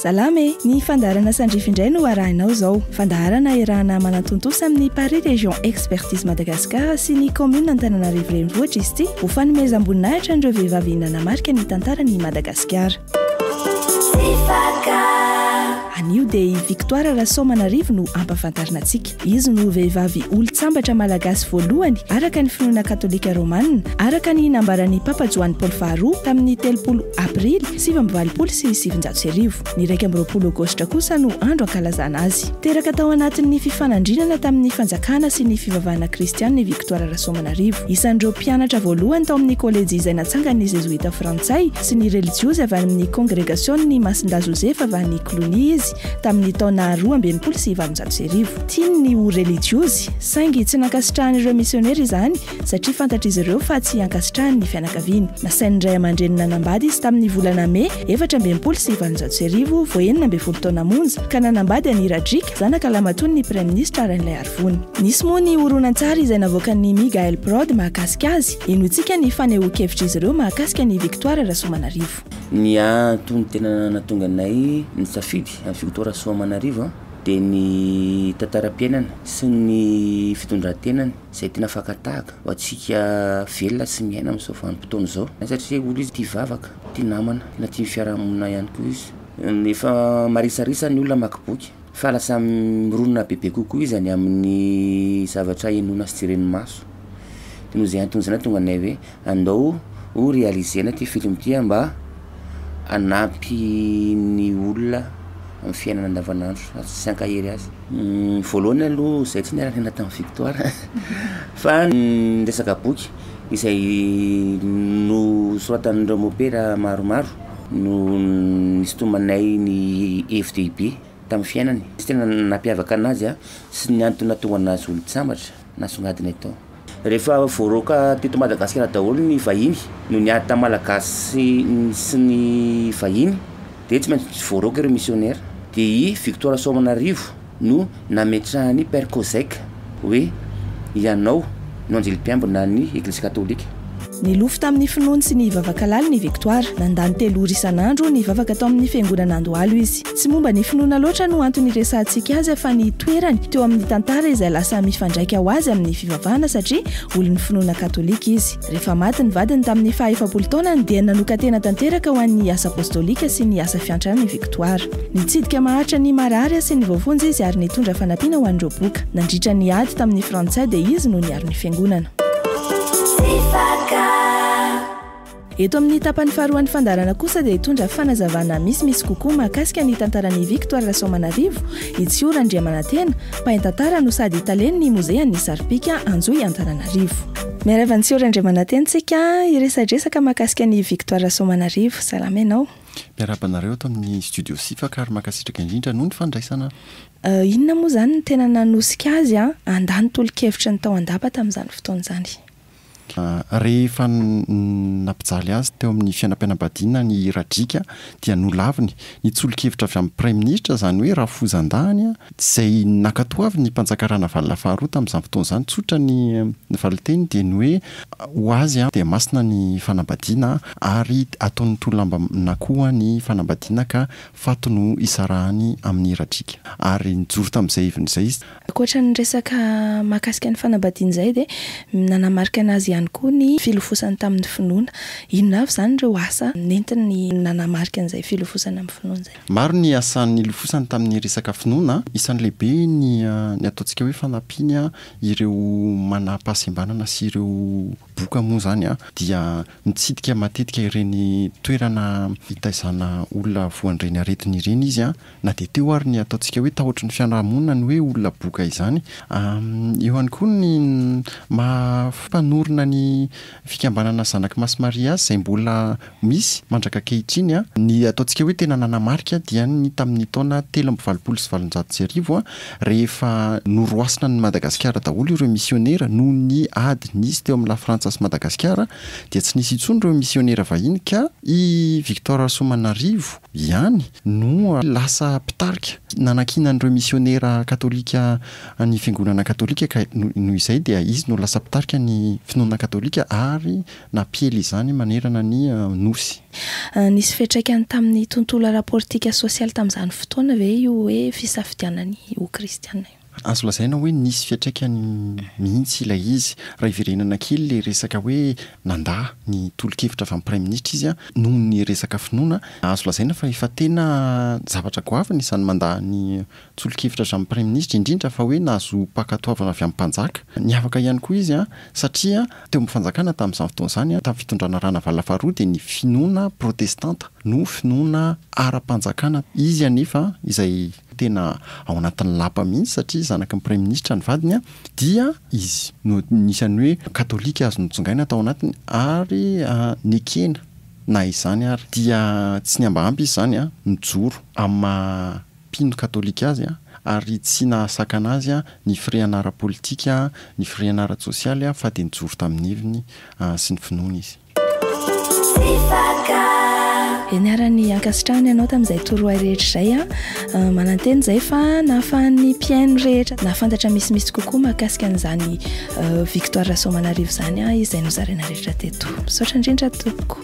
Salama e, ny fandaharana sandrify indray no arahinao izao. Fandaharana erahana manantontosa amin'ny Paris Région Expertise Madagascar sy ny commune Antananarivo Renivohitra izy ity ho fanomezam-boninahitra an'ireo vehivavy nanamarika ny tantaran'i Madagasikara. Anio dia i Victoire Rasoamanarivo no hampafantarina antsika. Izy no vehivavy olon-tsambatra malagasy voalohany araka ny finoana katolika romanina, araka ny nambaran'ny Papa Joany Paoly faharoa tamin'ny telopolo Aprily sivy amby valopolo sy sivinjato sy arivo. Ny iraika amby roapolo Aogositra kosa no andro ankalazana azy. Teraka tao anatin'ny fifanandrinana tamin'ny fanjakana sy ny fivavahana kristianina i Victoire Rasoamanarivo. Isan'ireo mpianatra voalohany tao amin'ny kôlejy izay natsangan'ny zezoita frantsay sy ny relijiozy avy any amin'ny kongregasion'ny Masindahy Josefa avy any Cluny izy tamin'ny taona roa amby enimpolo sy valonjato sy arivo. Tiany ny ho relijiozy, saingy tsy nankasitrahan'ireo misionera izany satria fantatr'izy ireo fa tsy ankasitrahany ny fianakaviany. Nasain'ny ray aman-dreniny nanambady izy tamin'ny volana Mey efatra amby enimpolo sy valonjato sy arivo vao enina ambin'ny folo taona monja, ka nanambady an'i Radrić, zanaka lahimatoan'ny Praiminisitra Rainilay Armand. Vony. Nisy moa ny horonantsary izay navoakan'ny Migael Prod mahakasika azy. Henointsika ny fanehoan-kevitr'izy ireo mahakasika an'i Victoire Rasoamanarivo. Ny antony tena nahatonga anay nisafidy an'i Victoire Rasoamanarivo dia ny tantaram-piainany sy ny fitondran-tenany izay tena fakan-tahaka ho antsika velona sy miaina amin'izao vanim-potoana izao. Satria olona izy tia vavaka, tia namana, tena tia ny fiarahamonina ihany koa izy. Efa marisarisa ny olona hamaky boky. Fa lasa mironona bebe kokoa izy any amin'ny zavatra henoina sy jeren'ny maso. Dia noho izay antony izay nahatonga anay hoe andao ho realiser-na ity film ity mba hanampy ny olona amin'ny fiainana andavanandro ary tsy hankahery azy. Voalohany aloha izahay tsy niara-niaina tamin'i Victoire fa ny resaka boky izay nosoratan'ireo mopera maromaro. no nisintomanay ny hevi-dehibe tamin'ny fiainany sy tena nampiavaka anazy sy ny antony nahatonga anazy olon-tsambatra nasongadina eto. Rehefa voaroaka teto Madagasikara daholo ny vahiny no niady tamin'ny Malagasy sy ny vahiny dia tsy maintsy voaroaka ireo misionera dia i Victor Soamanarivo no nametrahan'i Père Kozeck hoe, Ianao no anjely mpiambina an'ny Eglizy Katolika. Nilofo tamin'ny finoany sy ny vavakalaliny i Victoire. Nandany telo ora isan'andro nivavaka tao amin'ny Fiangonana Andohalo izy. Tsy momba ny finoana loatra no antony hiresahantsika azy fa ny toerany teo amin'ny tantara izay lasa mifandraika ho azy amin'ny fivavahana satria olon'ny finoana katolika izy. Rehefa maty ny vadiny tamin'ny faha efapolo taonany dia nanokan-tena tanteraka ho an'ny asa apostolika sy ny asa fiantrana i Victoire. Nitsidika maharitra ny marary sy ny voafonja izy ary nitondra fanampiana ho an'ireo boka. Nandritra ny ady tamin'ny Frantsay dia izy no niaro ny Fiangonana. Eto amin'ny tapany faharoan'ny fandaharana kosa dia hitondra fanazavana misimisy kokoa mahakasika ny tantaran'i Victoire Rasoamanarivo i Tsiho Randriamanantena, mpaintantara no sady talen'ny Mozean'ny Saripika Anjohy Antananarivo. Miarahaba an'i Tsihory Andriamananteny tsika hiresadresaka mahakasika an'i Victoire Rasoamanarivo. Salama ianao. Miarahaba anareo ato amin'ny studio Sifaka ary mankasitraka indrindra noho ny fandraisana. Inona moa izany no tena nanosika azy handà ny tolo-kevitry ny tao an-dapa tamin'izany fotoana izany? Rehefa nampijaly azy teo amin'ny fiainam-pianam-badiana ny Radriaka dia nolaviny ny tsolokevitra avy amin'ny Praiminisitra, izany hoe Rafozandahany, Izay nankatoavin'ny mpanjaka Ranavalona faharoa tamin'izany fotoana izany, tsotra ny valinteny dia ny hoe, ho azy dia masina ny fanambadiana ary ataon'ny tolomambanà koa ny fanambadiana ka faty no isarahany amin'ny radriaka. Ary nijoro tamin'izay heviny izay izy. Ankoatra ny resaka mahakasika ny fanambadiana izay dia nanamarika an'azy ihany koa ny filofosany tamin'ny finoana. Inona avy izany ireo asa nentiny nanamarika an'izay filofosana amin'ny finoana izay? Maro ny asa nilofosany tamin'ny resaka finoana, isan'ny lehibe ny ny ataontsika hoe fanampiany ireo manam-pahasembanana sy ireo boka moa izany dia mitsidika matetika ireny toerana itaizana olona voan'ireny aretina ireny izy na dia teo ary ny ataontsika hoe tahotry ny fiarahamonina ny hoe olona boka izany. Eo ihany koa ny maha mpanorina ny fikambanana Zanak'i Masimaria azy izay mbola misy mandrak'ankehitriny. Ny ataontsika hoe tena nanamarika dia ny tamin'ny taona telo amby valopolo sy valonjato sy arivo rehefa noroasina an'i Madagasikara daholo ireo misionera noho ny ady nisy teo amin'i Lafrantsa sy Madagasikara dia tsy nisy intsony ireo misionera vahiny ka i Victor Rasoamanarivo ihany no lasa mpitarika nanakiana an'ireo misionera katolika ny fiangonana katolika ka noho izay dia izy no lasa mpitarika ny finoana katolika ary Nampiely izany manerana ny Nosy. Nisy fiantraikany tamin'ny tontolo ara-politika sy sosialy tamin'izany fotoana ve io hoe fisafidianana ny ho kristiana io? Azo lazaina hoe nisy fiantraikany mihitsy ilay izy. Raha hiverenana kely ilay resaka hoe nandà ny tolo-kevitra avy amin'ny Praiminisitra izy noho ny resaka finoana, azo lazaina fa efa tena zavatra goavana izany mandà ny tsolokevitra avy amin'ny Praiminisitra indrindra fa hoe nahazo mpankatoavana avy amin'ny mpanjaka. Niavaka ihany koa izy satria teo amin'ny fanjakana tamin'izany fotoana izany, tamin'ny fitondrana Ranavalona faharoa dia ny finoana protestanta no finoana ara-panjakana. Izy anefa izay tena ao anatin'ny lapa mihitsy satria zanaky ny Praiminisitra ny vadiny dia izy no anisan'ny hoe katolika azo notsongaina tao anatiny ary nekena na izany ary dia tsy ny ambahamba izy izany nijoro amin'ny maha mpino katolika azy ary tsy nahasakana azy ny firehana ara-politika, ny firehana ara-tsosialy fa dia nijoro tamin'ny heviny sy ny finoany izy. Ianarany ankasitrahany anao tamin'izay torohay rehetra izay. Manantena izay fa nahafahan'ny mpihaino rehetra nahafantatra misimisy kokoa mahakasika an'izany Victoire Rasoamanarivo izany izy izay nozaraina rehetra teto. Misaotra indrindra tompoko.